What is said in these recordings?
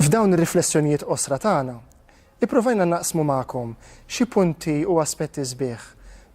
F'dawn ir-riflessjonijiet qosra tagħna, ipprovajna naqsmu magħkom xi punti u aspetti sbieħ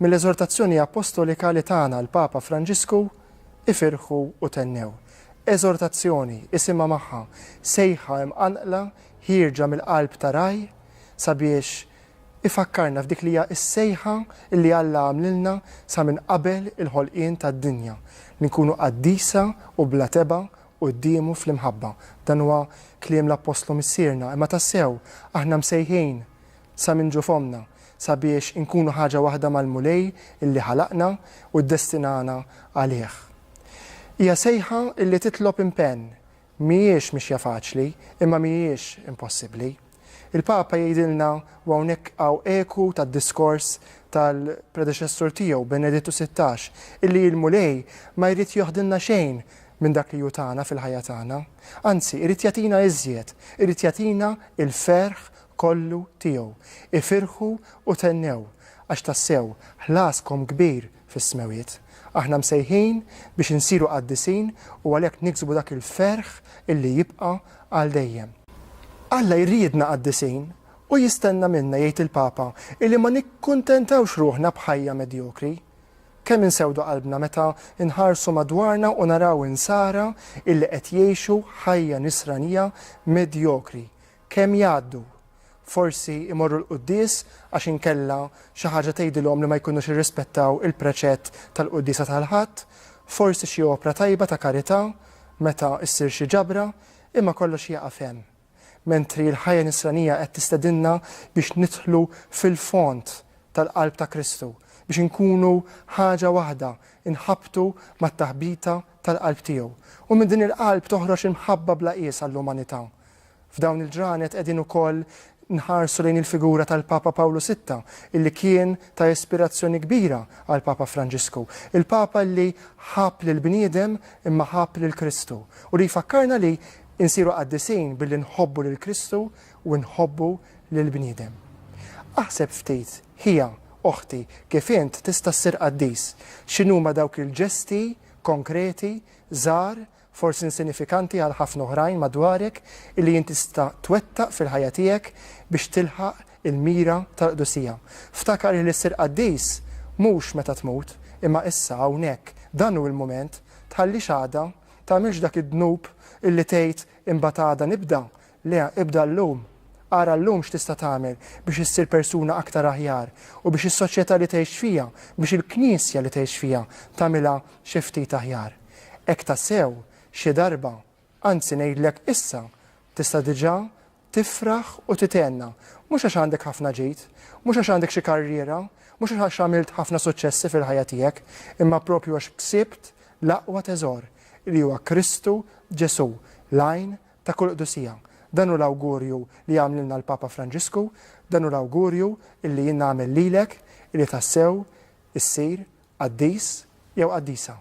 mill-Eżortazzjoni Appostolika li tana l-Papa Franġisku Ifirħu u Thennew. Eżortazzjoni, isimha magħha, sejħa imqanqla ħierġa mill-qalb ta' Ragħaj sabiex ifakkarna f'dik li hija s-sejħa li Alla għamlilna sa minn qabel il-ħolqien tad-dinja, li nkunu qaddisa u bla tebgħa quddiemu fl-imħabba. Dan huwa kliem l-Appostlu Missierna, imma tassew aħna msejħin sa minn ġo fommna sabiex inkunu ħaġa waħda mal-Mulej li ħalaqna u ddestinana għalih. Hija sejħa li titlob impenn, Mhijiex mixja faċli, imma mhijiex impossibbli. Il-Papa jgħidilna, u hawnhekk hawn eku tad-diskors tal-predeċessur tiegħu Benedittu Sittax, illi l-Mulej ma jrid joħdilna xejn minn dak li hu tana fil-ħajja tagħna. Anzi, irid jagħtina iżjed, irid jagħtina l-ferħ kollu tiegħu. Ifirħu u thennew, għax tassew ħlaskom kbir fis-Smewwiet. Aħna msejħin biex insiru qaddisin u għalhekk niksbu dak il-ferħ li jibqa' għal dejjem. Alla jridna qaddisin u jistenna minna, jgħid il-Papa, illi ma nikkuntentawx ruħna b'ħajja medjokri. Kemm insewdu qalbna meta nħarsu madwarna u naraw insara illi qed jgħixu ħajja nisranija medjokri, Kemm jgħaddu? Forsi jmorru l-quddies għax inkella xi ħaġa tgħidilhom li ma jkunux irrispettaw il-preċett tal-quddiesa tal-Ħadd, forsi xi opra tajba ta' karità meta ssir xi ġabra, imma kollox jieqaf hemm. Mentri l-ħajja nisranija qed tistedinna biex nidħlu fil-fond tal-qalb ta' Kristu, biex inkunu ħaġa waħda, inħabbtu mat-taħbita tal-qalb tiegħu. U minn din il-qalb toħroġ imħabba bla qies għall-umanità. F'dawn il-ġranet qegħdin ukoll nħarsu lejn il-figura tal-Papa Pawlu Sitta, illi kien ta' ispirazzjoni kbira għall-Papa Franġisku. Il-Papa li ħabb lill-bniedem imma ħabb lil Kristu u li jfakkarna li nsiru qaddisin billi nħobbu lil Kristu u nħobbu lill-bniedem. Aħseb ftit, ħija, oħti, kif int tista' ssir qaddis. X'inhuma dawk il-ġesti konkreti, żgħar, forsi insinifikanti għal ħafna oħrajn madwarek, illi int tista' twettaq fil-ħajja tiegħek biex tilħaq il-mira tal-qdusija. Ftakar illi ssir qaddis mhux meta tmut, imma issa, hawnhekk, dan hu l-mument, tħallix għada, tagħmilx dak id-dnub illi tgħid imbagħad għada nibda, Le, ibda llum. Ara llum x'tista' tagħmel biex issir persuna aktar aħjar u biex is-soċjetà li tgħix fiha, biex il-Knisja li tgħix fiha tagħmilha xi ftit aħjar. Hekk tassew, xi darba, anzi ngħidlek issa, tista' diġà tifraħ u tithenna, mhux għax għandek ħafna ġid, mhux għax għandek xi karriera, mhux għax għamilt ħafna suċċessi fil-ħajja tiegħek, imma proprju għax ksibt l-aqwa teżor, li huwa Kristu Ġesù, l-għajn ta' kull Qdusija. Dan hu l-awgurju li għamlilna l-Papa Franġisku, dan hu l-awgurju illi jien nagħmel lilek illi tassew issir qaddis jew qaddisa.